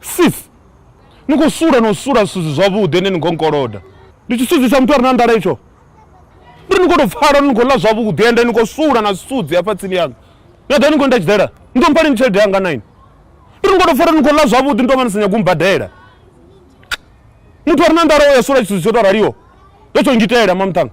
sis ni khou sula no sula zwithu zwi zwavhuḓi ene ni khou nkoloda ndi tshisudzi tsha muthu a re na nḓala itsho ndi ni khou tou pfala ni khou ḽa zwavhuḓi ende ni khou sula na zwisudzi hafha tsini yanga ni aḓa ni khou nda tshiḓela ni ḓo mphaleni tshelede yanga naini ndi ni khou tou pfala ni khou ḽa zwavhuḓi ni tou vha ni sa nyago mbadela muthu a re na nḓala o ya sula tshithu tsho tou raliho ndo tsho ngitela mamuṱhanga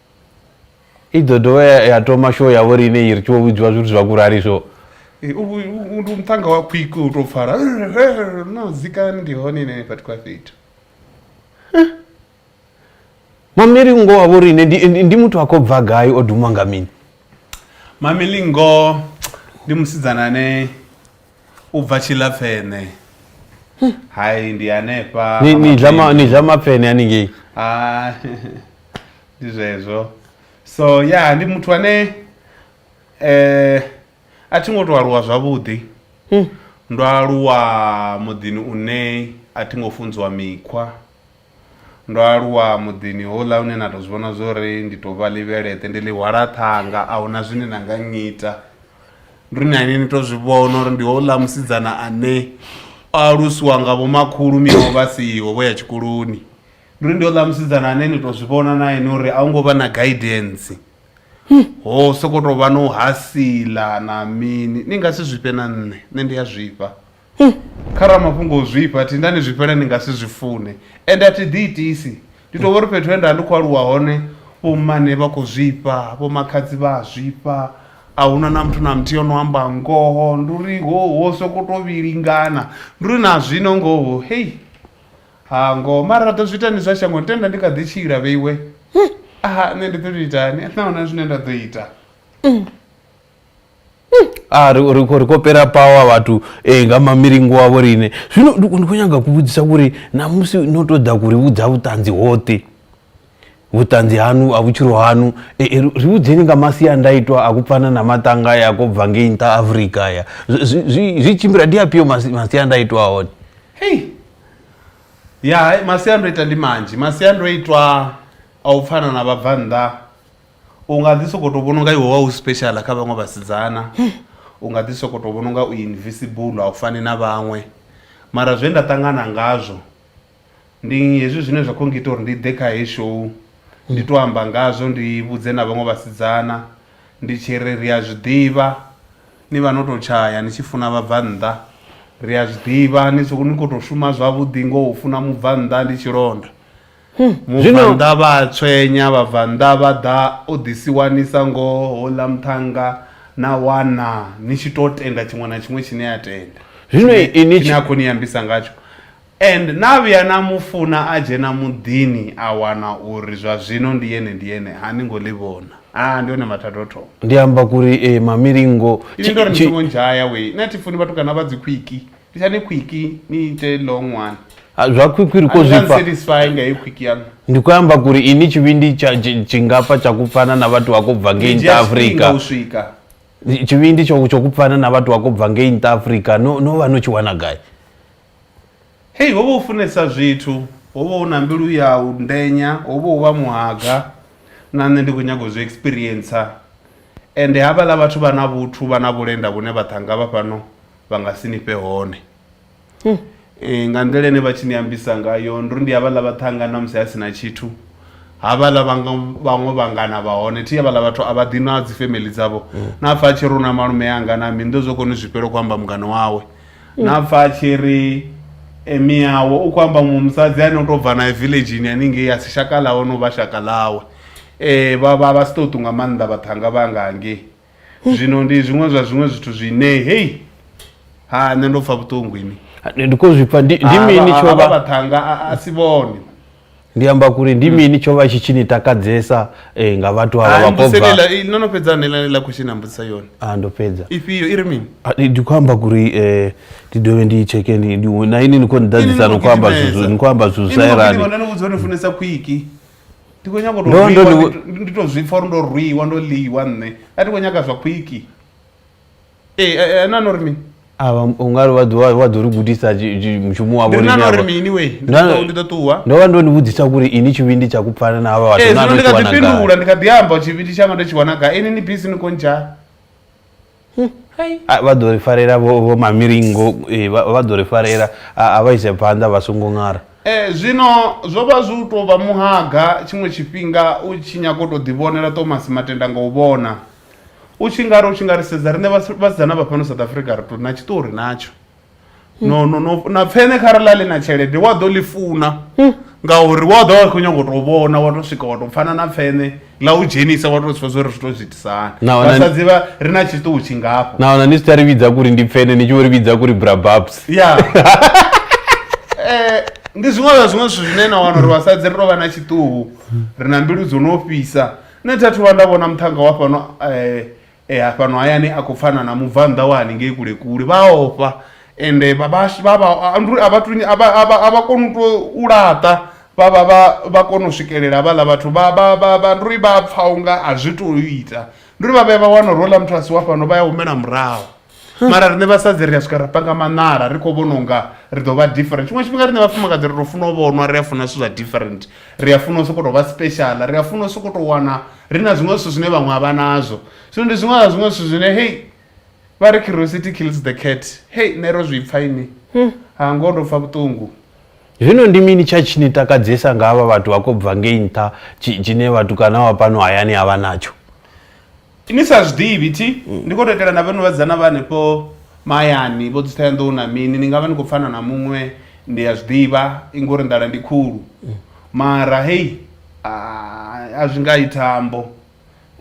i ḓo dovha ya- ya toma show yavho ri ine i ri tshi vho vhudziwa zwithu zwa kurali so Eh, u- u- u- ndi muṱhanga wa khwiko u tou pfala no zikani ndi hone ine vhathu kwa fhethu mamiri ngo wavho ri ine ndi, ndi, ndi muthu a khou bva gai o dumwa nga mini mamelingo ndi musidzana ane u bva tshilapfene hai ndi hanefha Ni- ni ḽa ma- ni ḽa mapfene haningei Ah, ndi zwezwo so ya ndi muthu ane eh a thi ngo to aluwa zwavhuḓi ndo aluwa muḓini une a thi ngo funziwa mikhwa ndo aluwa muḓini houḽa hune na tou zwi vhona zwo ri ndi tou vha ḽivheleṱe ndi ḽi hwala ṱhanga a huna zwine na nga ngita ndi ri nani ni tou zwi vhona uri ndi houḽa musidzana ane o alusiwa nga vhomakhulu miawe vha siho vho ya tshikoloni ndi uri ndi houḽa musidzana ane ni tou zwi vhona na ene uri a hu ngo vha na guidance ho sokou tou vha no hasila na mini ni nga si zwifhe na nṋe nṋe ndi a zwifha Kha ramafhungo o zwifha, a thi nda ni zwifhela ni nga si zwi fune. Ende a thi ḓiitisi. Ndi tou vha uri fhethu he nda vha ndi khou aluwa hone, vhommane vha khou zwifha, vhomakhadzi vha a zwifha, a hu na na muthu na muthihi o no amba ngoho. Ndi uri ho ho sokou tou vhilingana. Ndi uri na zwino ngoho hei, ha ngoho. Mara ra ḓo zwi ita ni zwa shangoni, tenda ndi kha ḓi tshila vheiwe. Nṋe ndi ḓo tou itani? A thi na hone zwine nda ḓo ita. a ah, ri khou ri khou pera power vhathu eh, nga mamilingo wavho riṋe zwino ndi khou nyaga kuvhudzisa kuri namusi no tou ḓa kuri vhudza vhuṱanzi hoṱhe vhuṱanzi hanu a vhutshilo hanu eh, eh, ri vhudzeni nga masiandaitwa a kupfana na maṱanga ya ko bva ngei nṱha afrika ya zwi tshimbila ndi afhio masiandaitwa a hone hei ya masiandoitwa ndi manzhi masiandoitwa a u pfana na vhabvanḓa u nga ḓi sokou tou vhona unga iwe wa u special kha vhaṅwe vhasidzana u nga ḓi sokou tou vhona unga u invisible a u fani na vhaṅwe mara zwe nda ṱangana ngazwo ndi hezwi zwine zwa khou ngita uri ndi ḓe kha heyi show ndi tou amba ngazwo ndi vhudze na vhaṅwe vhasidzana ndi tshi ri ri a zwi ḓivha ni vha no tou tshaya ni tshi funa vhabvannḓa ri a zwi ḓivha ni khou tou shuma zwavhuḓi ngo funa mubvannḓa ndi tshilonda Mubvannḓa vha a tswenya, vhabvannḓa vha ḓa u ḓi si wanisa ngo houḽa muṱhannga, na wana ni tshi tou tenda tshiṅwe na tshiṅwe tshine a tenda, tshine a khou ni ambisa ngatsho. And na vhuya na mu funa a dzhena muḓini a wana uri zwa zwino ndi ene ndi ene, a ni ngo ḽi vhona. Haa, ndi hone mathada o thoma. Ndi amba kuri, Ee, Mamilingo. Inwi ndo ri ni songo ndzhaya wee, na thi funi vhatukana vha dzikhwiki. Ndi tsha ni khwiki ni ite long one. Ha, zwa khwikhwi ri A khou ni zwi nga pfa nsatisfy nga heyi khwiki yaṋu. ndi khou amba kuri ini tshivhindi tsha- tshi- tshi nga pfa tsha ku pfana na vhathu vha khou bva ngei Ni dzhia nṱha tshifhinga afrika u swika. tshivhindi tsho tsho ku pfana na vhathu vha khou bva ngei nṱha afrika no no vha no tshi wana gai Hei ho vha u funesa zwithu, ho vha u na mbilu ya u ndenya, ho vha u vha muhaga na nṋe ndi khou nyaga u zwi experiencer. Ende havhaḽa vhathu vha na vhuthu, vha na vhulenda vhune vha ṱhanga vha fhano vha nga si ni fhe hone um nga nḓila ine vha tshi ni ambisa ngayo ndi uri ndi havhaḽa vhaṱhanga na musi a si na tshithu havhaḽa vhaṅwe vhangana vha hone thi havhaḽa vhathu a vha ḓi na dzi family dzavho na pfa a tshi ri una malume anga na mi ndo zwo koni zwifhelo khou amba mungana wawe na pfa a tshi ri e, miyawe u khou amba muṅwe musadzi ane u tou bva nae villageni haningei a si shaka ḽawe no vha shaka ḽawe um vha vha vha si ṱoṱu nga maanḓa vhaṱhanga vha nga hangei zwino ndi zwiṅwe zwa zwiṅwe zwithu zwine hei ha nṋe ndo pfa vhuṱungu ini ndi khou zwi pfa ndi ndi Ah, mini vha- tsho vha vha vhaṱhanga a- a si vhone ndi amba kuri ndi mini tsho vha tshi tshi ni takadzesa eh, nga vhathu ava vha khou bva ambusele no no fhedza nela la question ambudzisa yone Ah, ndo fhedza ifhio i ri mini Ah, ndi ndi khou amba kuri eh, ndi dovhe ndi tsheke ndi- ndi- na ini ni khou ni ḓadzisa ni khou amba zwithu- ni khou amba zwithu zwi sa Ini no gidima, elani no no vhudza uri ni funesa khwiki ndi khou nyanga u Ndo- ndo tou rwiwa, ri- ndi- ndi tou zwipfa uri ndo rwiwa ndo ḽiwa nṋe a thi khou nyaga zwa khwiki ee eh, eh, na no ri mini ava ungari wa ḓo- wa ḓo ri gudisa ji- ji- mushumo wavo ndi na no ri mini we ndi Na- ḓo- ndi ḓo ṱuwa ndo vha ndo ni vhudzisa kuri ini tshivhindi tsha ku pfana na havha vhathu ee na zwino no ndi kha tshi ḓi wana gai fhindula ndi kha ḓi amba tshivhindi tshanga ndo tshi wana gai ini ni bisi ni khou ndzhaa A, vha ḓo ri farela vho vho mamiringo eh, vha vha ḓo ri farela a a vha ise phanḓa vha songo ṅara Eh, zwino zwo vha zwi u tou vha muhaga tshiṅwe tshifhinga u tshi nyaga u tou ḓivhonela Thomas Matenda nga u vhona u tshi nga ri u tshi nga ri sedza riṋe vhas- vhasidzana vha fhano South Africa ri tou na tshiṱori natsho no no no na pfene kharali a ḽi na tshelede wa ḓo ḽi funa hmm. ngauri wa ḓo vha khou nyanga u tou vhona wa tou swika wa tou pfana na pfene ḽa u dzhenisa wa tou zwi pfesa uri zwi tou zwi itisanivhasadzi vha ri na tshiṱuhu tshingafho nahona ni si tsha ri vhidza kuri ndi pfene ni tshi vho ri vhidza kuri brababs ya eh, ndi zwiṅwe zwa zwiṅwe zwithu zwine na wana uri vhasadzi ri tou vha na tshiṱuhu ri na mbilu dzo no fhisa nṋe thathu vha nda vhona muṱhanga wa fhano um ha fhano hayani a khou pfana na mubvannḓa wa haningei kule kule vha a ofha ende vha vha vha vha a vha a vha koni u to u laṱa vha vha vha vha kona u swikelela vhaḽa vhathu vha vha vha vha ndi uri vha pfha unga a zwi to ita ndi uri vha vhuya vha wana uri houḽa muthu a si wa fhano vha ya humela murahu. mara rine vhasadzi ri a swika ra panga maṋala ri khou vhona unga ri ḓo vha different tshiṅwe tshifhinga rine vhafumakadzi ri to funa u vhonwa ri a funa zwithu zwa different ri a funa u sokou tou vha special ri a funa u sokou tou wana ri na zwiṅwe zwithu zwine vhaṅwe a vha nazwo zwino ndi zwiṅwe zwa zwiṅwe zwithu zwine hei vha ri curiosity kills the cat hei nṋe ro zwi pfa ini hmm. ha ngoho ndo pfa vhuṱungu zwino ndi mini tsha tshi ni takadzesa nga havha vhathu vha khou bva ngei nṱha tshine vhatukana wa pano hayani a vha natsho Ni sa zwi ḓivhi thi mm. ndi khou tou itela na vhanu vhadzana vha hanefho mahayani vho dzitha ya nḓou na mini ni nga vha ni khou pfana na muṅwe ndi a zwi ḓivha i ngori nḓala ndi khulu mm. mara hei a zwi nga ithambo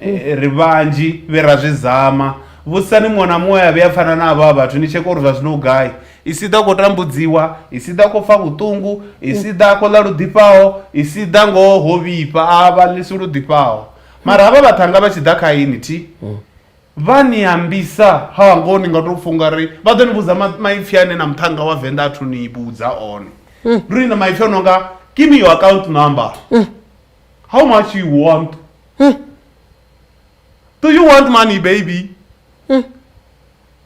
mm. e, ri vhanzhi vhe ra zwi zama vhudzisani muṅwe na muṅwe a vhuya pfana na avho a vhathu ni tsheke uri zwa zwino u gai i si ḓa khou tambudziwa i si ḓa khou pfa vhuṱungu i si ḓa khou ḽa luḓifhaho i si ḓa ngoho ho vhifha a vha ḽisi luḓifhaho mara havha vhaṱhanga vha tshi ḓa kha ini thi vha ni ambisa ha ngoho ni nga tou funga ri vha ḓo ni vhudza ma- maipfi ane na muṱhanga wa venḓa athu ni vhudza one ndo ni na maipfi o no nga give me your account number how much you want do you want money baby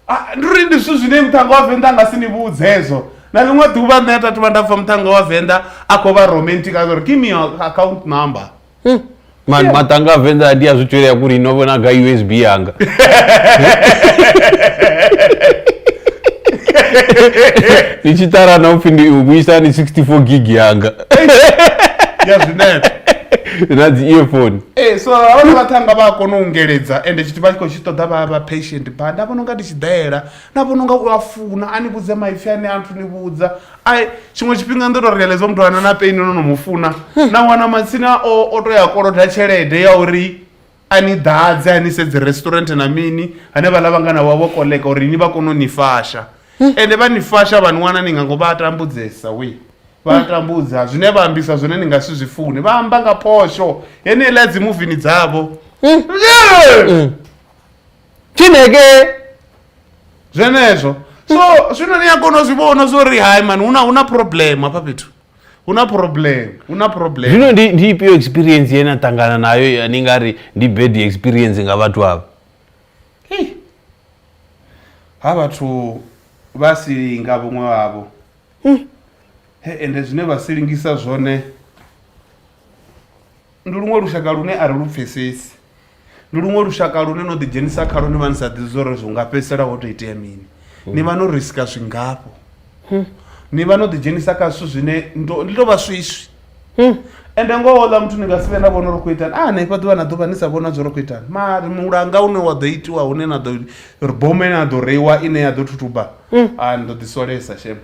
Ah, ndi uri ndi zwithu zwine muṱhanga wa venḓa a nga si ni vhudze hezwo na ḽiṅwe ḓuvha nṋe a tathu vha nda pfa muṱhanga wa venḓa a khou vha romantic a uri give me your account number mani matanga a venḓa ndi a zwi tswelea kuri no vhona ga usb yanga ni tshi ṱarana upfhi ndi u vhuisa ni 64 gig yanga ya zwinepe na dzi earphone ee so havha na vhaṱhanga vha a kona u ungeledza ende tshi vha tshi khou tshi ṱoḓa vha vha patient ba nda vhona unga ndi tshi ḓela nda vhona unga u a funa a ni vhudze maipfi ane a nthu ni vhudza ai tshiṅwe tshifhinga ndo to realize muthu ana na pain no no mu funa na wana matsina o o to ya koloda tshelede ya uri a ni ḓadze a ni sedze restaurant na mini ane vha lavha ngana wavho koḽeka uri ni vha kone u ni fasha ende vha ni fasha vha ni wana ni nga ngo vha tambudzesa we vha tambudza zwine vha ambisa zwone ni nga si zwi funi vha amba nga phosho yeneiḽa dzi muvini dzavho Mm. Yeah! Mm. Chineke. zwenezwo so zwino ni a kona u zwi vhona zwo ri hai mani huna huna problem hafha fhethu huna problem huna problem Zwino ndi ndi ifhio experience ye na ṱangana nayo ya ni nga ri ndi bad experience nga vhathu avho. Hey. ha vhathu vha si nga vhuṅwe wavho hmm. he ende zwine vha si lingisa zwone ndi luṅwe lushaka lune a ri lu pfesesi ndi luṅwe lushaka lune no ḓidzhenisa kha lune vha ni sa ḓi zwo ri zwi nga fhedzisela ho to itea mini hmm. ni vha no risika zwingafho hmm. ni vha no ḓidzhenisa kha zwithu zwine ndi to vha swiswi Hmm. ende ngoho ḽa muthu ni nga si vhe na vhona uri khou itani a ah, hanefha ḓuvha na ḓuvha ni sa vhona zwo ri khou itani mari mulanga une wa ḓo itiwa hune na ḓo ri bome na ḓo reiwa ine ya ḓo thuthuba a hmm. ah, ni ḓo ḓisolesa shem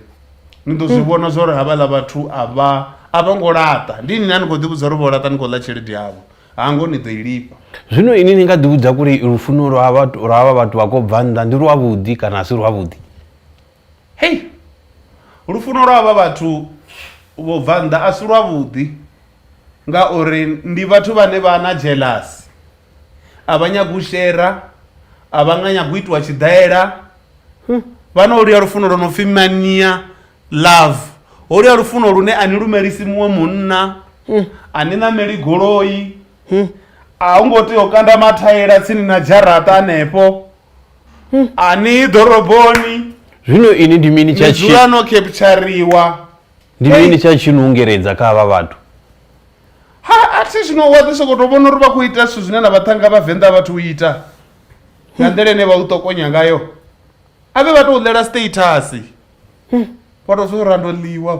ni ḓo zwi hmm. vhona zwa uri havhaḽa vhathu a vha a vha ngo laṱa ndi ni na ni khou ḓivhudza uri vho laṱa ni khou ḽa tshelede yavho hango ni ḓo i lifha zwino ini ni nga ḓivhudza kuri lufuno lwa havha vhathu vha khou bva nnḓa ndi lwavhuḓi kana a si lwavhuḓi Hei! Lufuno lwa havha vhathu vho bva nnḓa a si lwavhuḓi, ngauri ndi vhathu vhane vha na dzhelasi. A vha nyagi u shera, a vha nga nyagi u itiwa tshiḓaela. Vha na holuya lufuno lwo no pfi mania love, holuya lufuno lune a ni lumelisi muṅwe munna, a ni ṋameli goloi, a hu ngo tea u kanda mathaela tsini na dzharaṱa hanefho. ani ḓoroboni zwino ini ndi mini tsha tshi no capturiwa ndi mini tsha tshi nungeredza kha vha vhathu ha a thi zwino wa ḓi sokoto vhona uri vha khou ita zwithu zwine na vhaṱhanga vhavenḓa vhathu u ita nga nḓila ine vha u ṱokonya ngayo a vhe vha tou ḽela status vha tou zwo rando ḽiwa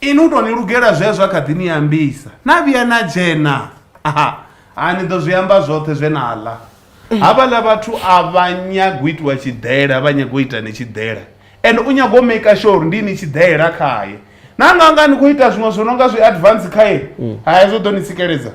Inwi u tou ni lugela zwe zwa kha ḓi ni ambisa. Na vhuya na dzhena. Aha, ha ni ḓo zwi amba zwoṱhe zwe na ḽa. Havhaḽa vhathu a vha nyagi u itiwa tshiḓela, vha nyaga u ita ni tshiḓela. Ende u nyaga u maker sure uri ndi inwi tshiḓela khae. Na nga nga ni khou ita zwiṅwe zwo no nga zwi advance khae, hai zwo ḓo ni tsikeledza.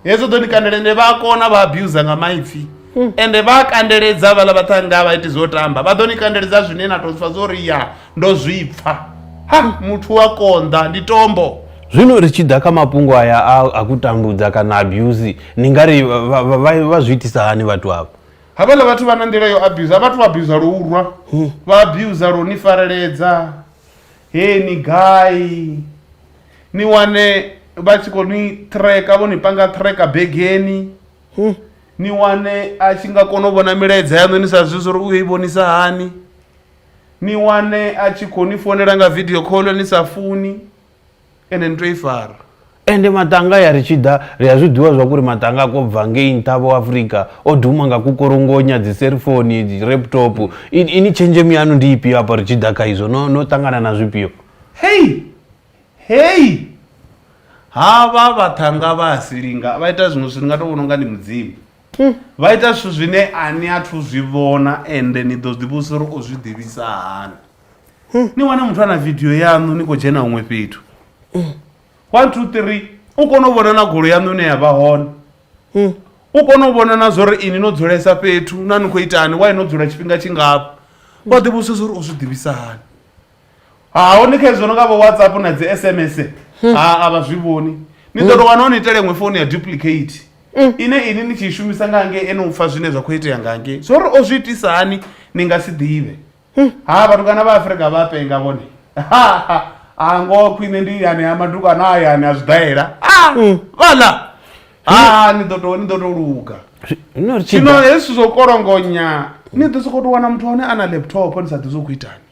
hezwo ḓo ni kandela ende vha a kona vha abusa nga maipfi hmm. ende vha a kandeledza vhaḽa vhaṱhanga vha iti zwo tamba vha ḓo ni kandeledza zwine na to pfa zwo ri ya ndo zwi pfa ha muthu wa konḓa ndi tombo zwino ri tshi ḓa kha mafhungo aya a ku tambudza kana abuse ni nga ri vha zwi itisa hani vhathu avho havhaḽa vhathu vha na nḓila yo abuse a vhathu abuse lo urwa hmm. vha abuse lo ni fareledza he ni gai ni wane vha tshi khou ni tracker vho ni panga tracker begeni hmm. ni wane a tshi nga kona u vhona milaedza yaṋu ni sa zwi zwa uri u yo i vhonisa hani ni wane a tshi khou ni founela nga video call ni sa funi ende ni to i fara ende matanga ya ri tshi ḓa ri a zwi ḓivha zwa kuri matanga a kho bva ngei nṱha vho afrika o duma nga kukorongonya dzi cellphone dzi laptop ini tshenzhemo yanu ndi ifhio hapa ri tshi ḓa kha izwo no no ṱangana na zwifhio Hei! Hei! Havha vhaṱhanga vha a silinga vha ita zwiṅwe zwithu ni nga tou vhona unga ndi mudzimu hmm. vha ita zwithu zwine a ni a thu zwi vhona ende ni ḓo zwi ḓivhusa uri o zwi ḓivhisa hani hmm. ni wane muthu a na vidio yaṋu ni khou dzhena huṅwe fhethu hmm. one two three u kone u vhona na golo yaṋu ine ya vha hone u kone u vhona na zwa uri ini no dzulesa fhethu na ni khou itani wa i no dzula tshifhinga tshingafha wa ḓivhusa zwa uri o zwi ḓivhisa hani ha hone kha hezwo no nga vho whatsapp na dzi sms ha a vha zwi vhoni ni ḓo tou wana ho ni itela iṅwe founu ya duplicate ine ini ni tshi i shumisa nga ngei ene u pfha zwine zwa khou itea nga ngei zwo ri o zwi itisa hani ni nga si ḓivhe ha vhatukana vha afrika vha penga vhone a ngoho khwine ndi yani ha matukana a yani a zwidaela a vhala ha ni ḓo tou ni ḓo tou luga Zwino ri tshi zwino ḓa- hezwi zwithu zwo kolongonya ni ḓo sokou tou wana muthu wa hone a na laptop ni sa ḓivhi zwo khou itani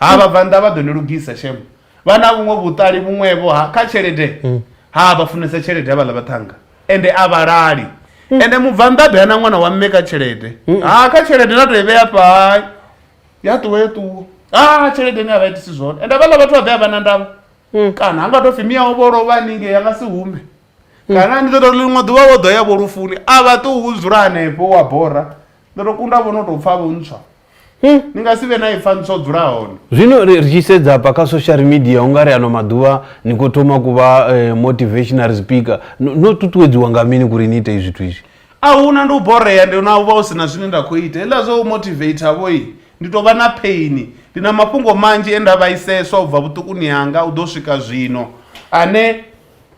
ha vhabvannḓa vha ḓo ni lugisa shem vha na vhuṅwe vhuṱali vhuṅwevho ha kha tshelede mm. ha vha funesa tshelede ha vhaḽa vhaṱhanga ende a vhalali mm. ende mubvannḓa be na ṅwana wa mme kha tshelede mm. ha kha tshelede na to i vhea pai ya ṱuwa ya ṱuwa ha tshelede ni a vha itisi zwone ende vhaḽa vhathu vha ḓe a vha na ndavha kana ha nga to pfi miyaho vho lovha haningei ya nga si hume kana ndi ḓo to liṅwe ḓuvha vho ḓo ya vho lufuni a vha ṱuwi u dzula hanefho wa bora ndo to kunda vho no tou pfa vho ntswa hmm. ni nga si vhe na ipfa ntswa dzula hone zwino ri tshi sedza hafha kha social media u nga ri ano maḓuvha ni khou thoma ku vha eh, motivational speaker no ṱuṱuwedziwa nga mini kuri ni ite zwithu izwi a huna ndi u borea ndi na u vha u si na zwine nda khou ita heḽa zwo u motivata vhoi ndi tou vha na phaini ndi na mafhungo manzhi e nda vhaiseswa u bva vhuṱukuni hanga u ḓo swika zwino ane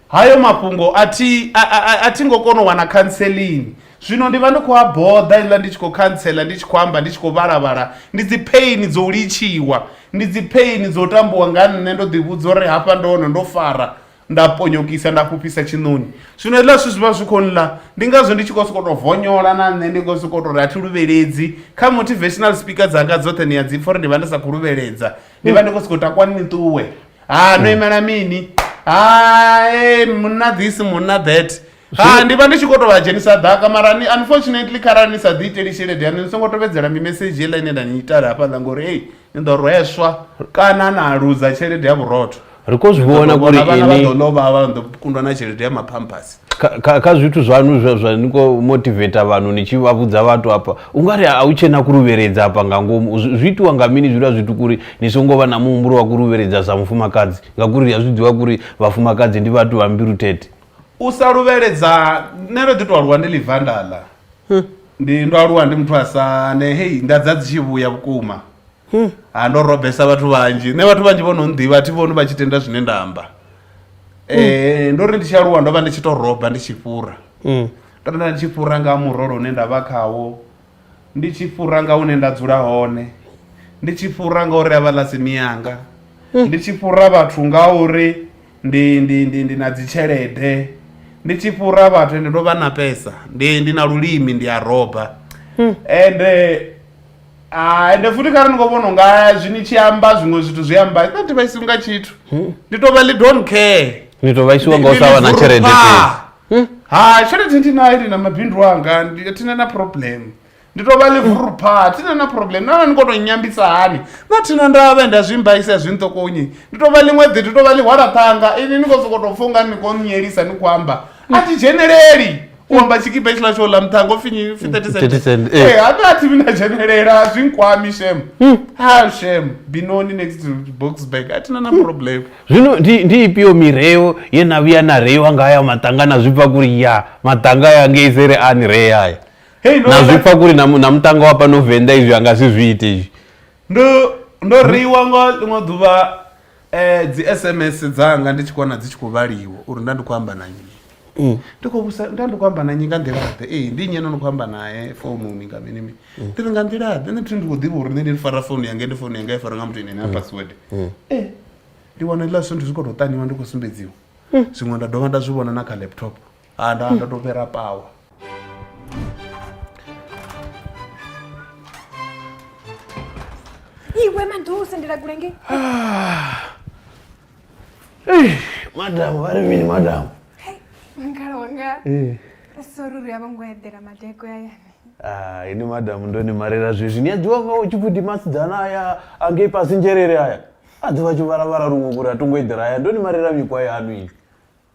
hayo mafhungo a thi a- a- a- a thi ngo kona u wana khanselini zwino ndi vha ndi khou a boḓa iḽa ndi tshi khou khantsela ndi tshi khou amba ndi tshi khou vhalavhala ndi dzi pheini dzo u litshiwa ndi dzi pheini dzo tambiwa nga nṋe ndo ḓivhudza uri hafha ndo hone ndo fara nda ponyokisa nda fhufhisa tshiṋoni zwino hezwiḽa zwithu zwi vha zwi khou nḽa ndi ngazwo ndi tshi khou sokou tou vonyola na nṋe ndi khou sokou tou ri a thi luvheledzi kha motivational speaker dzanga dzoṱhe ni a dzi pfha uri ndi vha ndi sa khou luvheledza ndi vha ndi khou sokou takwa ni ṱuwe ha no imela mini ha eh, munna this munna that ha ndi vha ndi tshi khou tou vha dzhenisa ḓaka mara ni unfortunately kharali ni sa ḓi iteli tshelede yanu ni songo tovhedzela mimesedzhi yeḽa ine nda ni itala hafhaḽa ngori ei ni ḓo rweswa kana na luza tshelede ya vhurotho ri khou zwi vhona kuri vhana vha ini ḓo lovha vha ḓo kundwa na tshelede ya maphampasi kha kha zwithu zwanu zwa zwa ni khou motivator vanhu ni tshi vha vhudza vhathu hafha u nga ri a hu tshena ku luvheledza hafha nga ngomu zwi itiwa nga mini zwiḽa zwithu kuri ni songo vha na muhumbulo wa ku luvheledza sa mufumakadzi ngauri a zwi ḓivha kuri vhafumakadzi ndi vhathu vha mbilu tete u sa luvheledza nṋe ndo ḓi to aluwa ndi livandala hm. ndi ndo aluwa ndi muthu asane hei nda dza dzi tshi vhuya vhukuma hm. ha ndo robesa vhathu vhanzhi nṋe vhathu vhanzhi vho no nḓivha thi vhoni vha tshi tenda zwine nda amba Eh, ndo ri ndi tshi aluwa ndo vha ndi tshi to roba ndi tshi fhura Mm. ndo vha ndi tshi fhura nga murolo une nda vha khawo ndi tshi fhura nga hune nda dzula hone ndi tshi fhura nga uri avha ḽa simi yanga ndi tshi fhura vhathu nga uri ndi ndi ndi ndi na dzitshelede ndi tshi fhura vhathu ende ndo vha na pesa ndi ndi na lulimi ndi a roba ende Ah, ende futhi kha ri ni khou vhona unga zwi ni tshi amba zwiṅwe zwithu zwi amba i thathi vha isi unga tshithu hmm. ndi tou vha ḽi don't care ni tou vha isiwa nga u sa vha na tshelede hmm? ha tshelede ndi nayo ndi na mabindu anga thina na problem ndi tou vha ḽi vurupha thina na problem nana ni khou tou nyambisa hani na thina nda vhe nda zwi mbaisa zwi nṱokonyi ndi tou vha ḽiṅwe ḓi ndi tou vha ḽi hwalaṱhanga ini ni khou sokou tou pfha unga ni khou nyelisa ni khou amba a thi dzheneleli u amba tshikipa tshiḽa tsho ḽa muṱhanga upfi nyi pfi 30 cent 30 cent, eh. eh hata athi mina dzhenelela a zwi nkwami shem ha shem binoni next to boxburg a thina na problem zwino ndi ndi ifhio mireo ye na vhuya na reiwa nga haya maṱanga na zwipfa kuri ya maṱanga ya ngei sere a ni ree haya Hey, no, na na- zwipfa kuri na mu- na muṱanga wa fhano venḓa izwi a nga si zwi ite izwi ndo ndo reiwa nga ḽiṅwe ḓuvha Eh, dzi sms dzanga ndi tshi kona dzi tshi khou vhaliwa uri nda ndi khou amba na nnyi Mm. ndi khou vhusa nda ndi khou amba na nnyi nga nḓilaḓe ee ndi nnyi ene ndi khou amba nae foununi nga mini mini ndi ri nga nḓilaḓe nṋe thi ndi khou ḓivha uri nṋe ndi fara founu yanga ndi founu yanga i fara nga muthu ine na password ee ndi wana hezwiḽa zwithu ndi zwi khou tou ṱaniwa ndi khou sumbedziwa zwiṅwe nda dovha nda zwi vhona na kha laptop ha nda nda to fhira pawa iwe maḓou sendela kule nge madam vha ri mini madam ngala wanga sori ri a vho ngo eḓela madeko ya yane Ah, ini madam ndo ni marela zwezwi ni a ḓivha nga utshi pfuti masidzana aya angei pasi nzhelele aya a ḓivha tshi vharavhara luṅwe kuri a tongo eḓela aya ndo ni marela mikwa yanu ini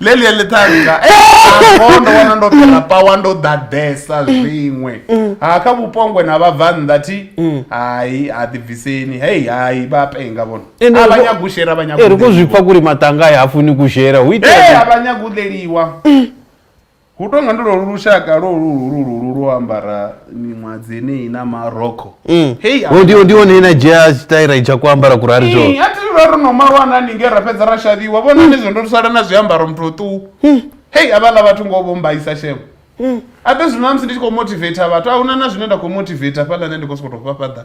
leli ya ḽiṱhanga ho ndo wana ndo fhela pawa ndo ḓaḓesa zwiṅwe ha kha vhupongwe na vhabvannḓa thi hayi ha ḓibviseni hei hayi vha penga vhono Ende a vha ri- nyaga u shera vha nyaga Eh, ri khou zwi pfa kuri maṱanga ya hafuni kushera hu Eh, itea a vha nyaga u ḽeliwa hu tonga ndi lolu lushaka lolu lulu lulu lwo ambara miṅwadzi yeneyi na marokho Mm. hei a- odiwo ndiwo ne na dzhia tshitaira tsha ku ambara kurari zwo Ee, a thi vha ro no malwa na ninge ra fhedza ra xaviwa vhona ni zwo ndo sala na zwiambaro muthu oṱuwu hei avhaḽa vhathu ngo vho mbaisa shemo abe zwino namusi ndi tshi khou motivator vhathu a huna na zwine nda khou motivator fhaḽa nṋe ndi khou sokoto fhafhaḓa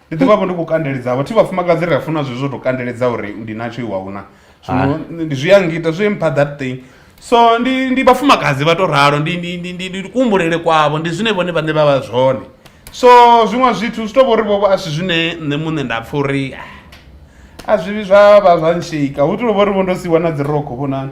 ndi ḓi vhavho ndi khou kandeledzavho thi vhafumakadzi ri a funa zwezwo tou kandeledza uri ndi natsho iwe ahuna zwino ndi- zwi a ngita zwi mpha that thing so ndi ndi vhafumakadzi vha tou ralo ndi ndi- ndi- ndi- ndi kuhumbulele kwavho ndi zwine vhone vhaṋe vha vha zwone so zwiṅwe zwithu zwi tou vho ri vhovho a si zwine nṋe muṋe nda pfha uri ah, a zwivhi zwa vha zwa nshika hu tou vho ri vho ndo siwa na dzi rokho vhonani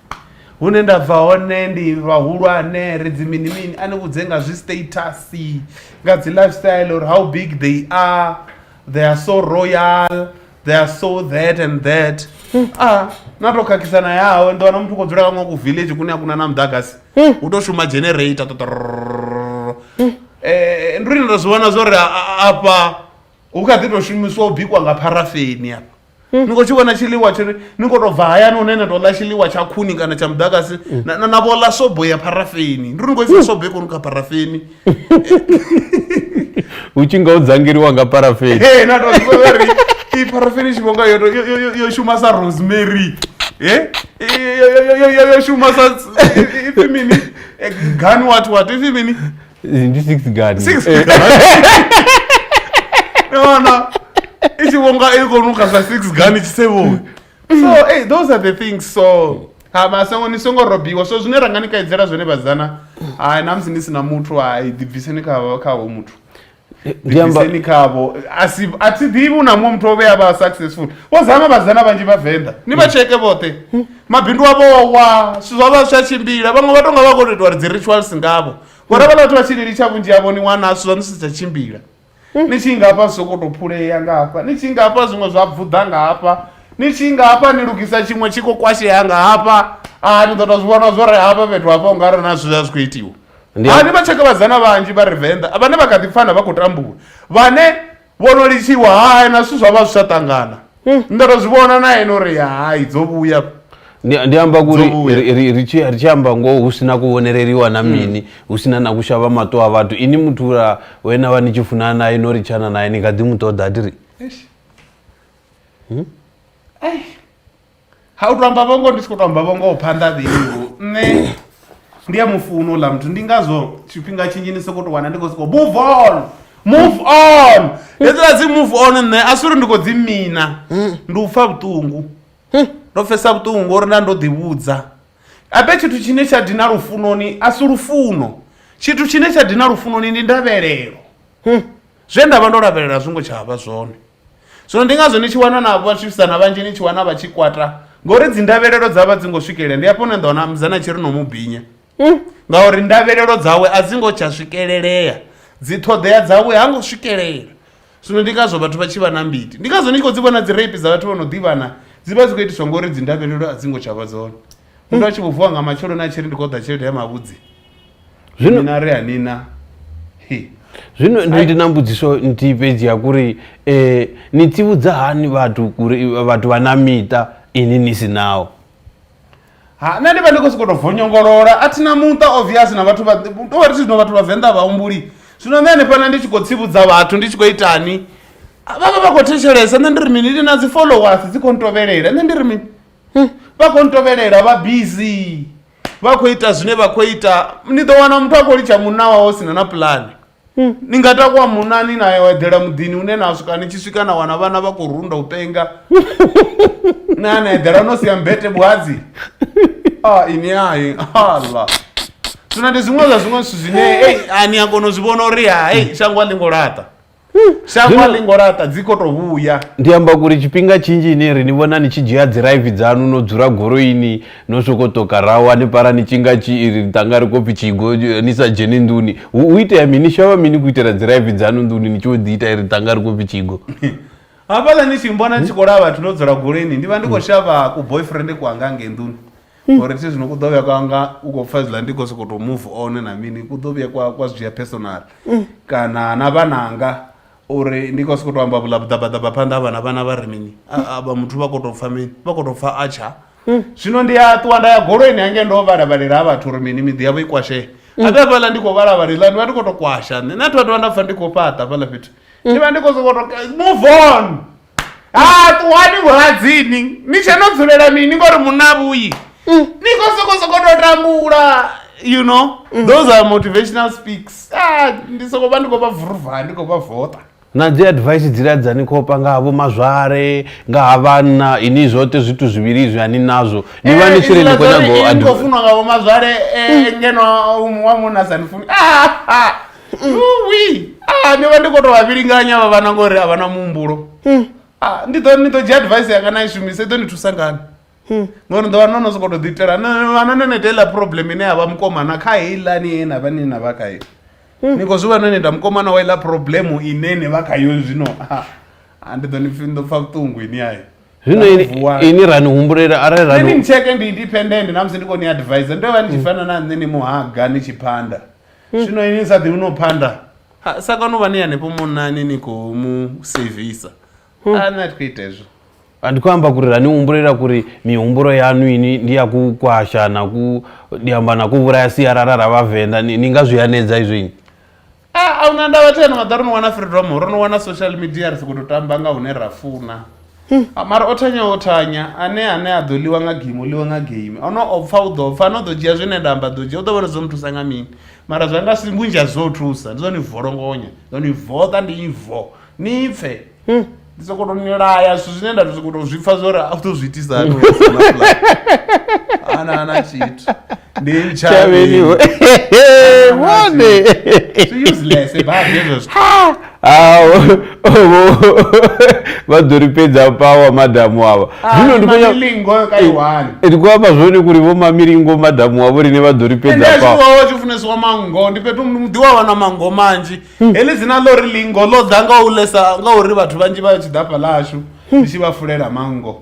Hune nda bva hone ndi vhahulwane ri dzi mini mini a ni vhudze nga zwi status nga dzi life style uri how big they are they are so royal they are so that and that a na to khakhisa na yawe ndi wana muthu khou dzula kaṅwe ku village kune a kuna na muḓagasi u to shuma generator totororo um ndi uri ni to zwi vhona zwo ri afha hu kha ḓi to shumiswa u bikwa nga pharafeni afha ni khou tshi vhona tshiḽiwa tshi ri ni khou tou bva hayani hune na tou ḽa tshiḽiwa tsha khuni kana tsha muḓagasi na- na na vho ḽa sobo ya pharafeni ndi uri ni khou isa sobo i khou nukha pharafeni hu tshi nga ho dzangeliwa nga parafeni Hey, na tou zwi vhona uri i pharafeni tshi vhonga yo tou- yo- yo- yo- yo shuma sa rosemary Eh? I- yo- yo- yo- yo- yo shuma sa i- i- ipfi mini Eh, gani what what ipfi mini ndi six gani Six Eh, Yona. Ichivonga iko nuka za six gani chisevonga. So hey, those are the things so ha masango ni songo robiwa so zwine ranga ni kaidzela zwone vhazana ha na musi ni sina muthu ha i dibviseni kha kha ho muthu ndi amba dibviseni khavo asi a thi ḓivhi u na muṅwe muthu o vhea vha successful vho zama vhazana vhanzhi vhavenḓa ni vha tsheke vhoṱhe mabindu avho o wa zwithu zwa vha zwi a tshimbila vhaṅwe vha tonga vha khou tou itwa uri dzi rituals ngavho ngori havhala vhathu vha tshi lilitsha vhunzhi havho ni wana zwithu zwa ni si tsha tshimbila ni tshi nga hafha zwi sokou tou phulea nga hafha ni tshi nga hafha zwiṅwe zwa bvuḓa nga hafha ni tshi nga hafha ni lugisa tshiṅwe tshi khou kwashea nga hafha a ni ḓo tou zwi vhona zwo re hafha fhethu hafha u nga ri na zwithu zwa zwi khou itiwa Ndi a- ani vha tshekevhadzana vhanzhi vha re venḓa vhane vha kha ḓi pfana vha khou tambula vhane vho no litshiwa hae na zwithu zwa vha zwi sa ṱangana hmm. ndo to zwi vhona na ene uri hai dzo vhuya ndi amba kuri ri tshi amba ngoho hu sina kuvhoneleliwa na hmm. mini hu sina na kushava mato a vhathu ini muthu ra wena vha ni tshi funana naye no ri tshana naye ni kha ḓi mu ṱoḓa tiri hmm? ha u to amba vhongo ndi si khou to amba vhongoho phanḓa vheiwo nṋe ndi a mufuno uḽa muthu ndi ngazwo tshifhinga tshinzhi ni sokou to wana ndi khou sokou move on move on hedzila dzi move on nṋe a si uri ndi khou dzi mina ndi u pfa vhuṱungu ndo pfesa vhuṱungu ngori nda ndo ḓivhudza abe tshithu tshine tsha dina lufunoni a si lufuno tshithu tshine tsha dina lufunoni ndi ndavhelelo zwe nda vha ndo lavhelela zwi ngo tsha vha zwone zwino ndi ngazwo ni tshi wana na vhashumisana vhanzhi ni tshi wana vha tshi kwata ngori dzi ndavhelelo dza vha dzi ngo swikelela ndi afho na nda wana mzana tshi ri no mu binya mm. ngauri ndavhelelo dzawe a dzi ngo tsha swikelelea dzi ṱhoḓea dzawe ha ngo swikelela zwino ndi ngazwo vhathu vha tshi vha na mbiti ndi ngazwo ni tshi khou dzi vhona dzi rape dza vhathu vho no ḓivhana dzi vha dzi khou itiswa ngori dzi ndavhelelo a dzi ngo tsha vha dzone muthu a tshi vho vuwa nga matsheloni a tshi ri ndi khou ḓa tshelede ya mavhudzi Zwino- nina ri hanina hi zwino ndi ndi na mbudziso nthihi fhedzi ya kuri um ni tsivhudza hani vhathu kuri vhathu vha na miṱa ini ni si nawo ha nṋe ndi vha ndi khou sokou tou vonyongolola a thina muṱa obvious na vhathu vha- tou vha ri zwino vhathu vha venḓa vhahumbuli zwino nṋe hanefhana ndi tshi khou tsivhudza vhathu ndi tshi khou itani vha vha vha khou thetshelesa nṋe ndi ri mini ndi na dzi followers dzi khou ntovhelela nṋe ndi ri mini vha khou ntovhelela vha busy vha khou ita zwine vha khou ita ni ḓo wana muthu a khou litsha munna wawe sina na pulani ni nga takuwa munna ni na eḓela muḓini une na swika ni tshi swika na wana vhana vha khou runda u penga na na eḓela no sia mbete vhuhadzi a ini ai allah zwino ndi zwiṅwe zwa zwiṅwe zwithu zwine ei a ni a kona u zwi vhona uri hai shango a ḽi ngo laṱa shango Zwino- a ḽi ngo laṱa dzi khou tou vhuya ndi amba kuri tshifhinga tshinzhi ine ri ni vhona ni tshi dzhia dziraivi dzanu no dzula goroini no soko toka raho hanefhala ni tshinga tshi ri tanga ri khou pfi tshigo eh, ni sa dzheni nḓuni hu hu itea mini ni shavha mini ku itela dziraivi dzanu nḓuni ni tshi vho ḓi ita ri tanga ri khou pfi tshigo hafhaḽa ni tshi mbona ni tshi khou laya vhathu ndo dzula goloini ndi vha ndi khou shavha ku boyfriend kwanga ngei nḓuni hmm. uri thi zwino ku ḓo vhuya kwa nga u khou pfa zwiḽa ndi khou sokou tou move on na mini ku ḓo vhuya kwa kwa zwi dzhia personal hmm. kana na vhananga uri ndi khou sokou tou amba vhula vhuḓabaḓaba phanḓa ha vhana vhana vha ri mini vha muthu vha khou tou pfa mini vha khou tou pfa a tsha hmm. zwino ndi a ṱuwa nda ya goloini hange ndo vhalavhalela ha vhathu uri mini miḓi yavho i kwashee abe fhaḽa ndi khou vhalavhalela ndi vha ndi khou tou kwasha nṋe na thu a tovha nda pfa ndi khou fhaṱa fhaḽa fhethu ndi vha ndi khou sokou tou move on ha ah, ṱuwani vhuladzini ni tshe no dzulela mini ngori munna vhuyi mm. ni kho soko soko to tambula you know mm. those are motivational speaks ah, ndi soko vha ndi khou vha vuruvha ndi khou vha vota na dzi advice dzila dza ni khopa nga havho mazwale nga ha vhanna ini zwote zwithu zwivhili zwi ani nazwo ni vha ni eh, tshiri ni khou nyago advice funwa nga vho mazwale eh, mm. ngeno wa munna sa ni funi ah, ah. wi ah, ndi vha ndi khou tou vha vhilinganya vha vhana ngori a vha na muhumbulo Hmm. Ah, ndi ḓo ni ḓo dzhia advice yanga na i shumisa i ḓo ni thusa ngani Hmm. ngori ni ḓo vha no no sokou tou ḓiitela No- vhana no neta heiḽa problem ine ya vha mukomana kha heilani ye na vha ni na vha khayo Hmm. ni khou zwi vha no neta mukomana wa iḽa problem ine ni vha khayo zwino Ah, ah, ndi ḓo ni pfi- ni ḓo pfa vhuṱungu ini ayo zwino ini- Vuwani. ini ra ni humbulela arali ra nṋe ni ni nitsheke ndi independent namusi ndi khou ni advise ndo vha ni tshi fana na nṋe ni muhaga ni tshi phanda zwino ini sa ḓivhi no phanda Ha, sa kano vha ni hanefho munani ni khou mu sevisa a ni a thi khou ita hezwo Ah, ndi khou amba kuri ra ni humbulela kuri mihumbulo yanu ini ndi ya ku kwasha na ku ndi amba na ku vhulaya sialala ra vhavenḓa ni ni nga zwi hanedza izwo ini a a una ndavha thena maḓa ro no wana freedom ro no wana social media ri si khou tou tamba nga hune ra funa Hmm. Ah, mara o thanya o thanya ane ane a ḓo ḽiwa nga game o ḽiwa nga game ono o pfa u ḓo pfa ano ḓo dzhia zwine nda amba ḓo dzhia u ḓo vhona zwo mu thusa nga mini mara zwa nga si vhunzhi ha zwo u thusa ndi zwa ni volongonya zwa ni voṱa ndi ivo ni pfe hmm. ndi soko to ni laya zwithu zwine nda soko to zwi pfa zwori a u ḓo zwi itisa hani ana ana tshithu ndi ntshavheni we vhone zwi useless eh, badi hezwo zwithu awo vha ḓo ri fhedza pawa madamu ava ah, zwino ndi khoya milingo ka eh, iwani eh, ndi khoya zwone kuri vho mamilingo madamu avo rine vha ḓo ri fhedza pawa ndi zwo tshi funesiwa mango ndi fhethu ndi wa wana mango manzhi hmm. heḽi dzina ḽo ri lingo ḽo ḓa nga u lesa nga uri vhathu vhanzhi vha tshi ḓa fhaḽashu hmm. ndi tshi vha fulela mango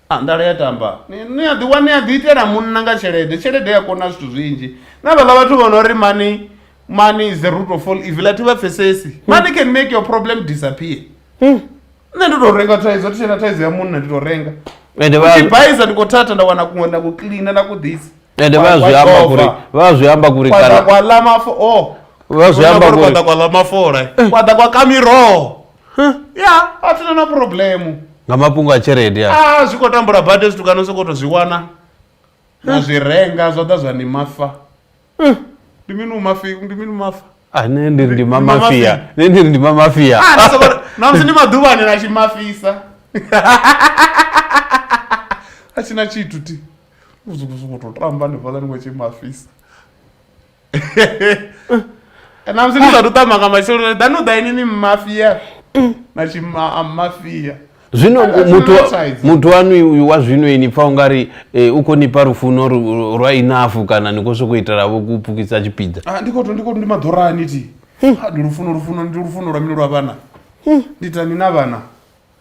Ah, nḓala ya tamba ni ni a ḓiwa ni a ḓi itela munna nga tshelede tshelede ya kona zwithu zwinzhi na vhaḽa vhathu vho no ri money money is the root of all evil a thi vha pfesesi money can make your problem disappear Hmm. nṋe ndi tou renga thaidzo thi tshena thaidzo ya munna ndi tou renga ende vha tshi bhaisa ndi khou thatha nda wana kuṅwe na ku cleaner na ku ḓisi ende vha zwi amba kuri vha zwi amba kuri kwaḓa kana kwa ḽa mafo o vha zwi amba kuri kwaḓa kwa ḽa mafola kwaḓa kwa ka miroho ya a thina na problemu nga mafhungo a tshelede a a zwi khou tambula badi hezwi tukano sokou to zwi wana na zwi renga zwa ḓa zwa ni mafa ndi mini u mafi ndi mini u mafa Ah, ne ndi ri ndi ma Ndi ma mafia mafia. ne ndi ri ndi ma mafia Ah, na sokou- na musi ndi maḓuvhani na tshi mafisa a tshina tshithu ti u sokou sokou to tamba ndi fhaḽa ni khou tshi mafisa namusi ni sathu tama nga matsheloni ḓa no ḓa ini ni mmafia na tshimmafia zwino That's muthu hypnotized. muthu wanu uyu wa zwino ini pfa ungari eh, u khou ni fha lufuno ru- rwa inafu kana ni khou sokou itelavo ku pfukisa tshipiḓa Ah, ndi khoto ndi khoto ndi maḓorani ti Ah, ndi lufuno lufuno ndi lufuno lwa mini lwa vhana ndi tani na vhana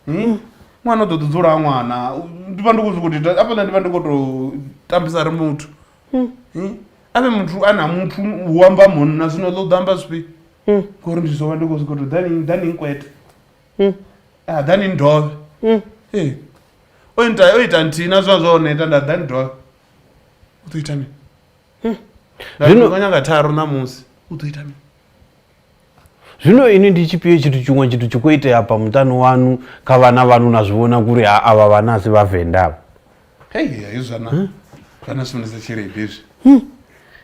Hmm? ṅwana u ḓo ḓi dzula ha ṅwana U- ndi vha ndi khou sokou ita afhaḽa ndi vha ndi khou tou tambisa ri muthu hmm. avhe muthu a na muthu u amba munna zwino ḓo ḓo amba zwifhio hmm. ngori ndi zwo vha ndi khou zwikho to ḓani ḓani nkwete hmm. a ah, ḓani ndove ee o ita o ita nthihi na zwa zwa hone ita nda ḓani ndove u ḓo ita mini nda ḓo nyanga tharu ṋamusi u ḓo ita mini Zwino ini ndi tshifhio tshithu tshiṅwe tshithu tshi khou itea hafha muṱani wanu kha vhana vhanu na zwi vhona kuri ha avha vhana asi vhavenḓa avha hei hei zwana hm? zwana sumbedza tshelede hezwi hm?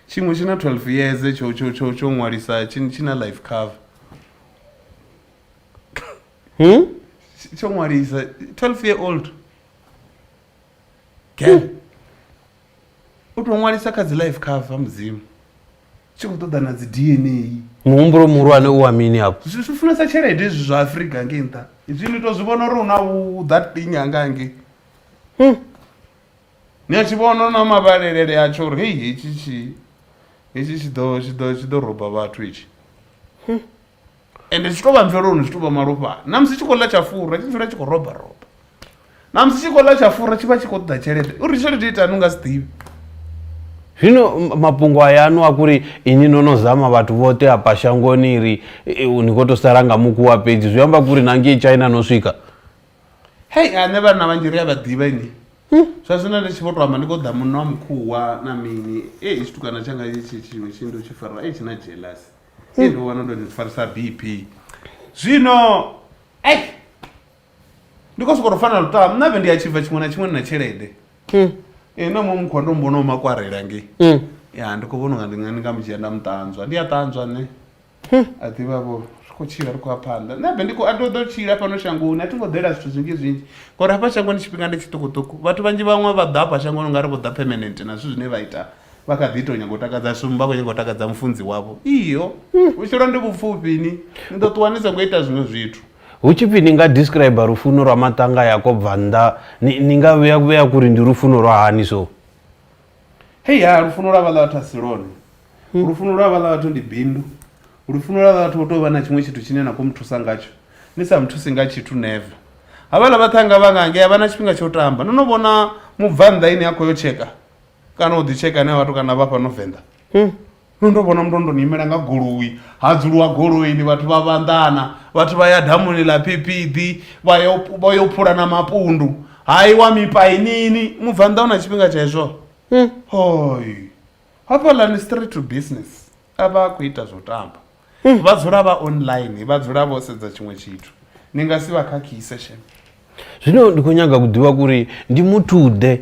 tshiṅwe tshi na 12 years tsho tsho tsho tsho ṅwalisa tshi na life cover hm? tsho ṅwalisa 12 year old girl u tou ṅwalisa kha dzi life cover mudzimu tshi khou ṱoḓa na dzi dna muhumbulo muhulwane u wa mini afho zwi zwi funesa tshelede izwi zwa afrika ngei nṱha izwi ni to zwi vhona uri una u that thing anga ngei Hmm. ni a tshi vhona na mavhalelele atsho uri hei hetshi tshi hetshi tshi ḓo tshi ḓo tshi ḓo roba vhathu hetshi ende zwi tshi tou vha mveloni zwi tou vha malofhani na musi tshi khou ḽa tsha fura tshi dzula tshi khou roba roba na musi tshi khou ḽa tsha fura tshi vha tshi khou ṱoḓa tshelede uri tshelede itani u nga si ḓivhi zwino mafhungo ayanu a kuri inyi no no zama vhathu vhoṱhe hafha shangoni ri ni khou tou sala nga mukuwa fhedzi zwi amba kuri na ngei china no swika hei ane vhana vhanzhi ri a vha ḓivha ini hmm? zwa zwino ndi tshi vho to amba ndi khou ḓa munna wa mukhuwa na mini e tshitukana tshanga tshiṅwe tshi ndo tshi farwa e tshi na jealous Hey, ndo wana ndo ḓi farisa bp zwino ei ndi khou sokou tou fana lutamo nṋe vhe ndi a tshibva tshiṅwe na tshiṅwe ndi na tshelede Mm. ee na muṅwe mukhwa ndo mbono makwarela ngei Mm. ya ndi khou vhona unga ndi nga ndi nga mu dzhia nda mu ṱanzwa ndi a ṱanzwa nṋe a ḓivha vho ri khou tshila ri khou ya phanḓa nṋe be ndi khou a ndo ḓo tshila fhano shangoni a thi ngo ḓela zwithu zwinzhi zwinzhi ngauri hafha shangoni tshifhinga ndi tshiṱukuṱuku vhathu vhanzhi vhaṅwe vha ḓa hafha shangoni u nga ri vho ḓa permanent na zwithu zwine vha ita Vha kha ḓi tou nyaga u takadza shumu, vha khou nyaga u takadza mufunzi wavho. Iyo, vhutshilo ndi vhupfufhi, ni, ni ḓo ṱuwa ni songo ita zwiṅwe zwithu. Hu tshi pfi ni nga describer lufuno lwa maṱanga ya ko bva nnḓa, ni, ni nga vhea, vhea kuri ndi lufuno lwa hani so? Hei, ha, lufuno lwa vhaḽa vhathu a si lwone. Lufuno lwa vhaḽa vhathu ndi bindu. Lufuno lwa vhaḽa vhathu ho tou vha na tshiṅwe tshithu tshine na khou mu thusa ngatsho. Ni sa mu thusi nga tshithu, never. Havhaḽa vhaṱhannga vha nga ngei a vha na tshifhinga tsha u tamba. No no vhona mubvannḓa e ni a khou yo tsheka? kana u ḓi tsheka ane vhathu kana vha fhano venḓa hmm. no ndo vhona muthu ndo ni imela nga goloi ha dzuliwa goloini vhathu vha vhanḓana vhathu vha ya damuni ḽa phiphiḓi vha yo phula na mapundu hayi wa mipainini mubvanḓa u na tshifhinga tsha hezwo hmm. hoi hafhaḽani straight to business a vha a khou ita zwo tamba mm. vha dzula vha online vha dzula vho sedza tshiṅwe tshithu ni nga si vha khakhise shem zwino ndi khou nyaga u ḓivha kuri ndi muthuḓe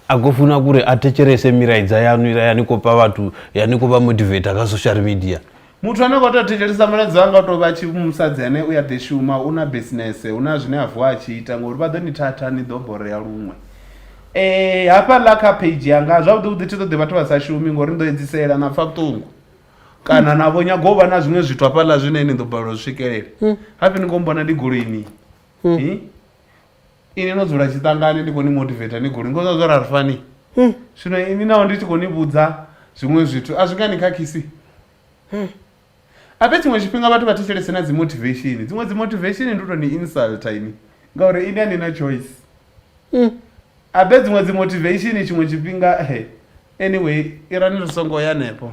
a khou funa kuri a thetshelese milaidza yanu ila ya ni khou pa vhathu ya ni khou vha motivata kha social media muthu ane kho tea thetshelesa muladzo anga to vha tshi musadzi ane u ya ḓi shuma u na business hu na zwine a vuwa a tshi ita ngori vha ḓo ni thatha ni ḓo borea luṅwe um hafhaḽa kha page yanga zwavhuḓi vhuḓi thi ṱoḓi vhathu vha sa shumi ngori ni ḓo edzisela na pfa vhuṱungu kana na vho nyaga u vha na zwiṅwe zwithu hafhaḽa zwine ni ḓo balelwa zwi swikelela hmm. hafi ni khou mbona ndi goloini hmm. hmm? ini no dzula tshiṱangani ndi khou ni motivata ni goloini ngozwa zwo ra ri fani zwino ini naho ndi tshi khou ni vhudza zwiṅwe zwithu a zwi nga ni khakhisi ape tshiṅwe tshifhinga vhathu vha thetshelese na dzi motivation dziṅwe dzi motivation ndi to ni insulta ini ngauri ini a ni na choice ape dziṅwe dzi motivation tshiṅwe tshifhinga he anyway irani ri songo ya hanefho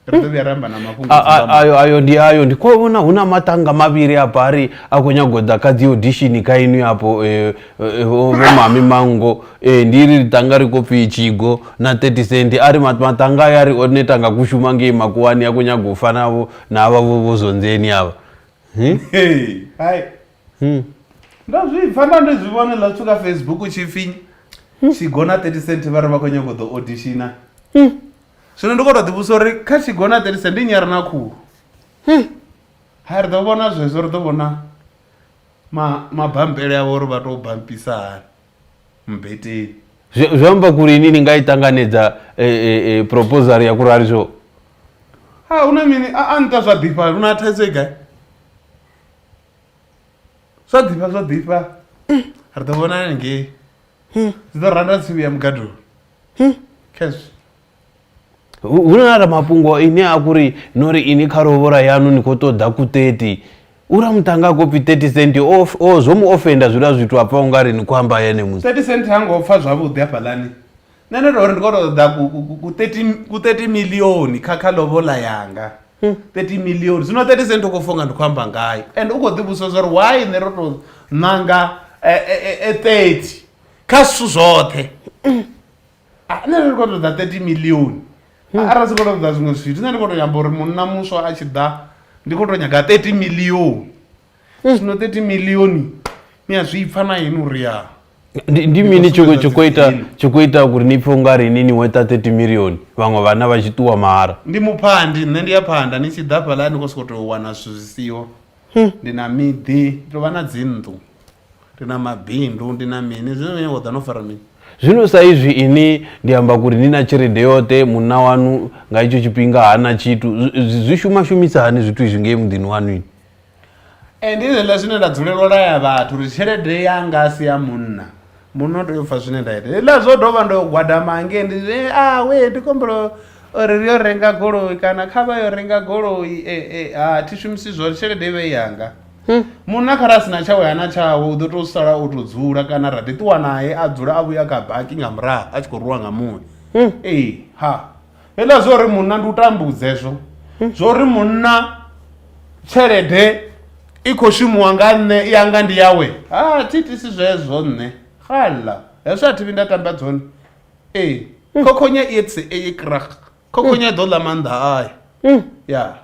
ri ḓo vhuya ra amba na mafhungo a- a- a- ayo ayo ndi ayo ndi khou vhona hu na matanga mavhili a bari a khou nyago ḓa kha dzi audition kha inwi hapo eh, eh, vho vho mami mango eh, ndi ri tanga ri khou pfi tshigo na 30 cent a ri mat- matanga aya ri one tanga ku shuma ngei makuwani a khou nyago u fanavho na avha vho vho zwonzeni avha Hmm? Hey, hai hmm. ndo zwi pfa nda ndi zwi vhone ḽa tshu kha facebook u tshi pfi hmm. tshigona 30 cent vha ri vha khou nyanga u ḓo auditiona hmm. zwino ndi khou tou ḓivhusa uri kha tshigona 30 cent ndi nnyi a re na khulu ha ri ḓo vhona zwezwo ri ḓo vhona mabambele avho uri vha tou bampisa hani mbeteni zwi amba kuri ini ni nga i ṱanganedza e, e, e, proposal ya kurali zwo ha una mini a nta zwa ḓifha una thaidzo i gai zwa ḓifha zwa ḓifha ri ḓo vhona ngei zwi ḓo randa tsimu ya mugadoni cash hu hu na ra mafhungo ine a kuri no ri ini kha rovhora yanu ni khou ṱoḓa ku 30 ura muṱanga a khou pfi 30 cent o f- o- zwo mu ofenda zwiḽa zwithu hafha u nga ri ni khou amba ene musi 30 cent ha ngo pfa zwavhuḓi hafhaḽani nṋe ndo tori ndi kho to ṱoḓa ku- ku- ku- ku 30 ku 30 milioni kha kha lovola yanga 30 milioni zwino 30 cent u khou funga ndi khou amba ngayo and u khou ḓivhusa zwa uri why nṋe ro to ṋanga eh, eh, eh, eh, 30 kha zwithu zwoṱhe Ah, nṋe ndi khou to ṱoḓa 30 milioni Ah, arali si khou to ṱoḓa zwiṅwe zwithu nṋe ndi khou to nyamba uri munna muswa a tshi ḓa ndi khou to nyaga 30 milioni zwino 30 milioni ni a zwi pfa na yeni uri ya ndi ndi mini tsho tsho khou ita Dzina. tsho khou ita uri ni pfhe unga ri ni ni weta 30 milioni vhaṅwe vhana vha tshi ṱuwa mahara ndi muphandi nṋe ndi ya phanda ni tshi ḓa fhaḽa ni khou sokou tou wana zwithu zwi siho ndi na miḓi ndi tou vha na dzinnḓu ndi na mabindu ndi na mini zwino ni khou ḓa no fara mini zwino sa izwi ini ndi amba kuri ni na tshelede yoṱhe munna wanu nga itsho tshifhinga hana tshithu zwi- zwi zwi shuma shumisa hani zwithu izwi ngei muḓini wanu ini Ndi zwenezwiḽa zwine nda dzulela u laya vhathu uri tshelede yanga a si ya munna munna u tea u pfha zwine nda ita hezwiḽa zwo dovha ndo gwadama hangei ndi zwi a we ndi khou humbela uri ri yo renga goloi kana kha vha yo renga goloi a thi shumisi zwone tshelede i vhe i yanga. Munna kharali a si na tshawe hana tshawe u ḓo tou sala o tou dzula kana ra ḓi ṱuwa nae a dzula a vhuya kha baki nga murahu a tshi khou rwiwa nga muya ee ha. heiḽa zwo uri munna ndi u tambudza hezwo hmm. zwo uri munna tshelede i khou shumiwa nga nṋe i anga ndi yawe ha thi tisi zwezwo nṋe xala hezwo a thi vhi nda tamba dzone ee hmm. khokhonya i etse eyi krak khokhonya i ḓo ḽa maanḓa ayo hmm. ya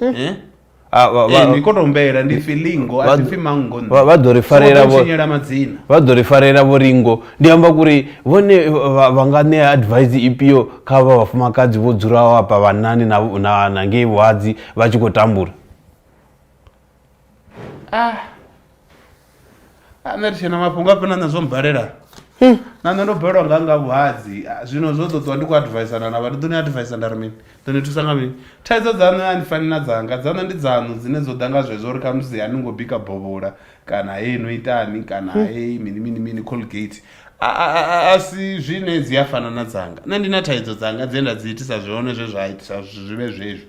Eh? Ah, vha- vha- Eh, ni koto humbela ndi pfi lingo vha- a si pfi mango nṋe. vha- vha ḓo ri farela Songo vho- tshinyela madzina vha ḓo ri farela vho ringo ndi amba kuri vhone vha vha nga ṋea advice ifhio kha vha vhafumakadzi vho dzulaho hafha vhanani na- na na ngei vhuhadzi vha tshi khou tambula ah ane ri tshena mafhungo afhena nṋe zwo mbalela hmm. na nṋe ndo balelwa nga nga vhuhadzi ah, zwino zwo ṱoṱiwa ndi khou advisana na vha ndi ḓo ni advisa nda ri mini ḓo ni thusa nga mini thaidzo dzaṋu a ndi fani na dzanga dzaṋu ndi dzaṋu dzine dzo ḓa nga zwezwo uri khamusi a ni ngo bika bovhola kana hei no itani kana hmm. hei mini mini mini colgate a si zwine dzi a fana na dzanga nṋe ndi na thaidzo dzanga dze nda dzi itisa zwone zwe zwa itisa zwi vhe zwezwi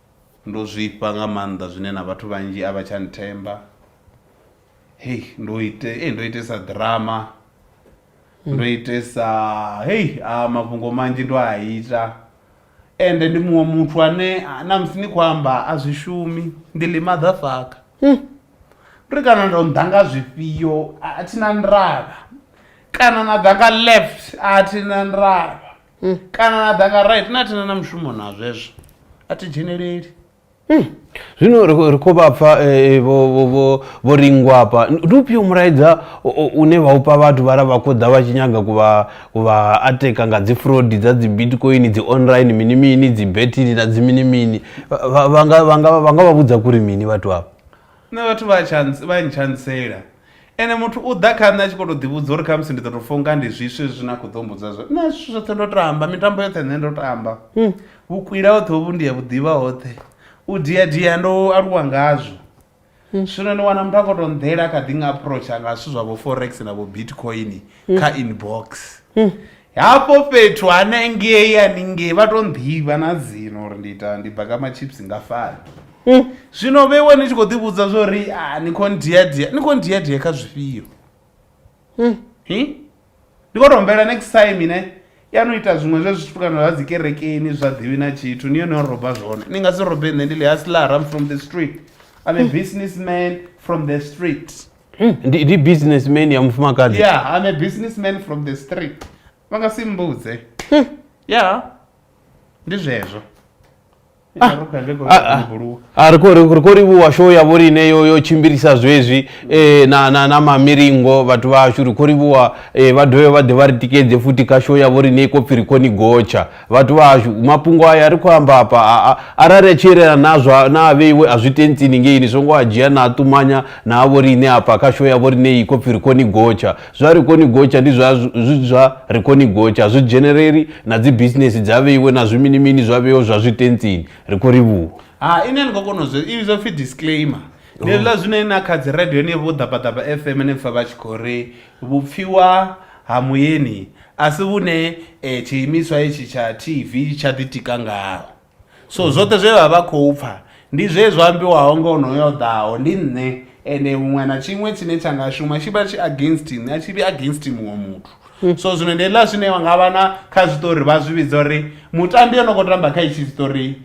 Ndo zwifha nga maanḓa zwine na vhathu vhanzhi a vha tsha nthemba. Hei ndo ite hei ndo itesa ḓirama ndo itesa hei a mafhungo manzhi ndo a ita ende ndi muṅwe muthu ane na musi ni khou amba a zwi shumi ndi ḽi maḓafaka. Uri kana ndo nnḓa nga zwifhio a thi na ndavha kana na ḓa nga left a thi na ndavha. hmm. kana na danga right na thina na mushumo na zwezwo a thi dzheneleli hmm. zwino ri khou vha pfa eh, eh, vho ringwa hafha ndi ufhio mulaedza une vha upa vhathu vha ra vha khou ḓa vha tshi nyaga kuvha ateka nga dzi frodi dza dzi bitcoin dzi online mini mini dzi betini na dzi mini mini vha nga vha vhudza kuri mini vhathu avho Nṋe vhathu vha tsha vha ntsha ntsela ene muthu u ḓa kha nṋe a tshi khou tou ḓivhudza uri khamusi ndi ḓo tou funga ndi zwiswe zwine a khou ḓo mbudza zwo nṋe zwithu zwoṱhe ndo tamba mitambo yoṱhe nṋe ndo tamba vhukwila hoṱhe hovhu ndi ya vhuḓivha hoṱhe u dia dia ndo aluwa ngazwo zwino ni wana muthu a khou tou nḓela kha ḓi nga approacha nga zwithu zwa vho forex na vho bitcoin kha inbox hafho fhethu hanengei haningei vha to nḓivha na dzino uri ndi ita ndi baka machips nga fani hmm. zwino vheiwe ni tshi khou ḓivhudza zwo ri ah, ni khou ndiadia ni khou ndiadia kha zwifhio hmm. ndi khou tombela next time ne ya no ita zwiṅwe zwe zwithu kana zwa dzikerekeni zwa ḓivhi na tshithu ni yone yo roba zwone ni nga si robe nṋe ndi ḽi haslara from the street i'm a business man from the street Hmm, ndi ndi businessman ya mufumakadzi yeah i'm a businessman from the street vha nga si mmbudze Hmm. yeah ndi zwezwo Ah, ah, ah. rukhuyangekouluwa Ah, ri khou- ri khou- ri khou livhuwa show yavho line yo yo tshimbilisa zwezwi eh, na na na mamilingo vhathu vhashu ri khou livhuwa eh, vha dovhe vha ḓe vha ri tikedze futhi kha show yavho line i khou pfi ri khou ni gotsha Vhathu vha hashu mafhungo aya ri khou amba afha a arali a tshi yelana na zwa na a vheiwe a zwi tentsini ngei ni songo a dzhia na a ṱumanya na a vho riṋe afha kha show ya vho riṋe i khou pfhi ri khou ni gotsha zwa ri khou ni gotsha ndi zwa zwi zwa ri khou ni gotsha zwi dzheneleri na dzi business dza vheiwe na zwi mini mini zwa vheiwe zwa zwi tentsini ri khou ri vhu ha ine ni khou kona zwo i zwo pfhi disclaimer ni ḽa zwine na kha dzi radio ni vho ḓabaḓaba FM ni pfha vha tshi khou ri Vhupfiwa ha Muyeni a si vhune tshiimiswa hetshi tsha TV tsha ḓitika ngaho. So zwoṱhe zwe vha vha khou pfa ndi zwe zwa ambiwaho nga onoyo o ḓaho, ndi nṋe. Ende huṅwe na tshiṅwe tshine tsha nga shuma tshi vha tshi against nṋe, a tshi vhi against muṅwe muthu. So zwino ndi hezwiḽa zwine vha nga vha na kha zwiṱori vha zwi vhidza uri mutambi o no khou tamba kha hetshi tshiṱori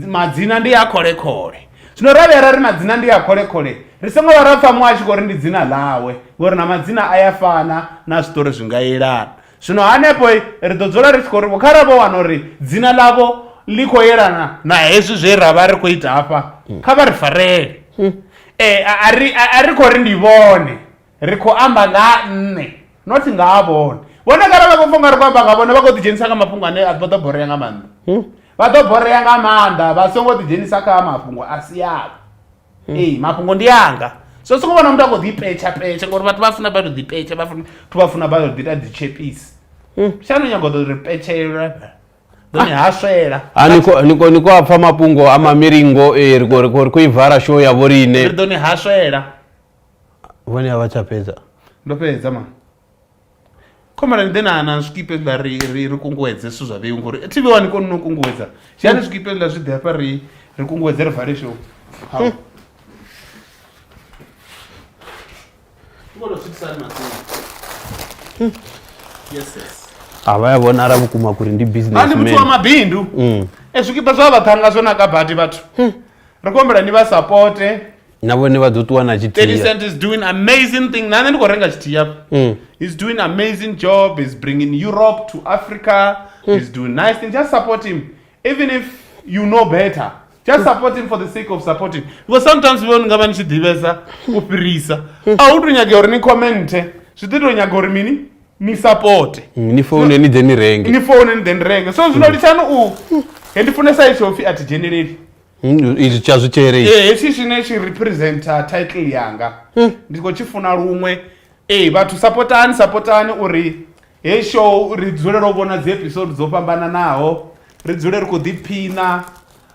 madzina ndi a kholekhole zwino ra vhuya ra ri madzina ndi a kholekhole ri songo vha ra pfha muṅwe a tshi khou ri ndi dzina ḽawe ngori na madzina a ya fana na zwiṱori zwi nga yelana zwino hanefho ri ḓo dzula ri tshi khou ri vho khara vho wana uri dzina ḽavho ḽi khou yelana na hezwi zwe ra vha ri khou ita hafha kha vha ri farele um a ri khou ri ndi vhone ri khou amba nga ha nṋe not nga ha vhone vhone kara vha khou pfa ungari khou amba nga vhone vha khou ḓidzhenisa kha mafhungo ane a vha ḓo borea nga maanḓa hmm? vha ḓo borea nga maanḓa vha songo ḓidzhenisa kha mafhungo a si avho hmm. ee mafhungo ndi anga so songo vhona muthu a khou ḓipetsha petsha ngauri vhathu vha funa vha to ḓipetsha vhathu vha funa vha to ḓita dzitshepisi hmm. shano nyago ḓo ri petshelwa doni ha swela niko niko a pfa mafhungo a mamiringo ee ri khou ivara show ya vho riṋe ri ḓoni ha swela vhone a vha tsha fhedza ndo fhedza ma khomara ni ḓe na na zwikipe zwiḽa ri ri ri kunguwedze zwithu zwa vheu ngori tv wani koni no kunguwedza dzhiani zwikipe zwiḽa zwi ḓe hafha ri ri kunguwedze ri vale show Hau. Ni kone u swikisa hani matsina? Yes, yes. a vha ya vhonala vhukuma kuri ndi business ani muthu wa mabindu Mm. e zwikipa zwa vhaṱhanga zwo naka badi vhathu ri khou humbela ni vha sapote na vhone vha ḓo ṱuwa na 30 tshithihi cent is doing amazing thing na nṋe ndi khou renga tshithihi hafha Mm. he's doing amazing job he's bringing europe to africa Hmm. he's doing nice things just support him even if you know better Hmm. just support him for the sake of supporting because sometimes vho ni nga vha ni tshi ḓivhesa u fhirisa Hmm. a hu to nyagea uri ni commente zwi ḓi to nyaga uri mini ni supporte Mm, ni foune ni ḓe ni renge ni foune ni ḓe ni renge so zwino litshani u he ndi funesa itsho pfhi a thi dzheneleli Hmm, izvi tsha zwi tshere izvi. Eh, hetswi tshine tshi representa title yanga hmm. ndi khou tshi funa luṅwe ee eh, vhathu sapotani sapotani uri hei show ri dzulele u vhona dzi episode dzo fhambananaho ri dzule ri khou ḓiphina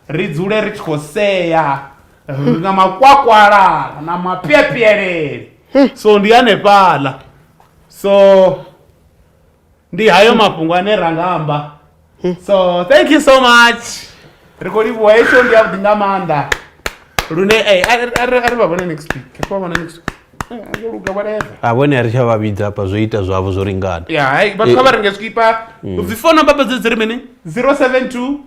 ri dzule ri tshi khou sea ri na makwakwala na mapyepyelele hmm. so ndi hanefhaḽa so ndi hayo mafhungo ane ra nga amba so thank you so much ri khou livhuwa hei show ndi yavhuḓi nga maanḓa lune eh, a ri- a ri a ri vha vhone next week ri khou vha vhona next week Eh, a zwo luga whatever a vhone a ri tsha vha vhidza hafha zwo ita zwavho zwo lingana ya hai vhathu kha vha renge zwikipa dzi fono mbaba dze dzi ri mini 072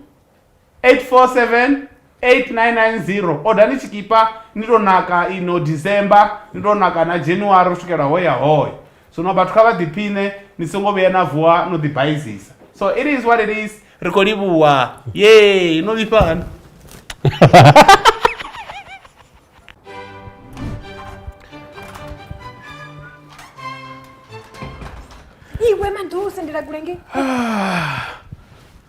847 8990 odani tshikipa ni to naka ino december ni to naka na january u swikela hoya hoya zwino vhathu kha vha ḓiphine ni songo vhuya na vuwa no ḓibaizisa so it is what it is ri khou livhuwa ye no vhifhana iwe maḓusi ndila kulenge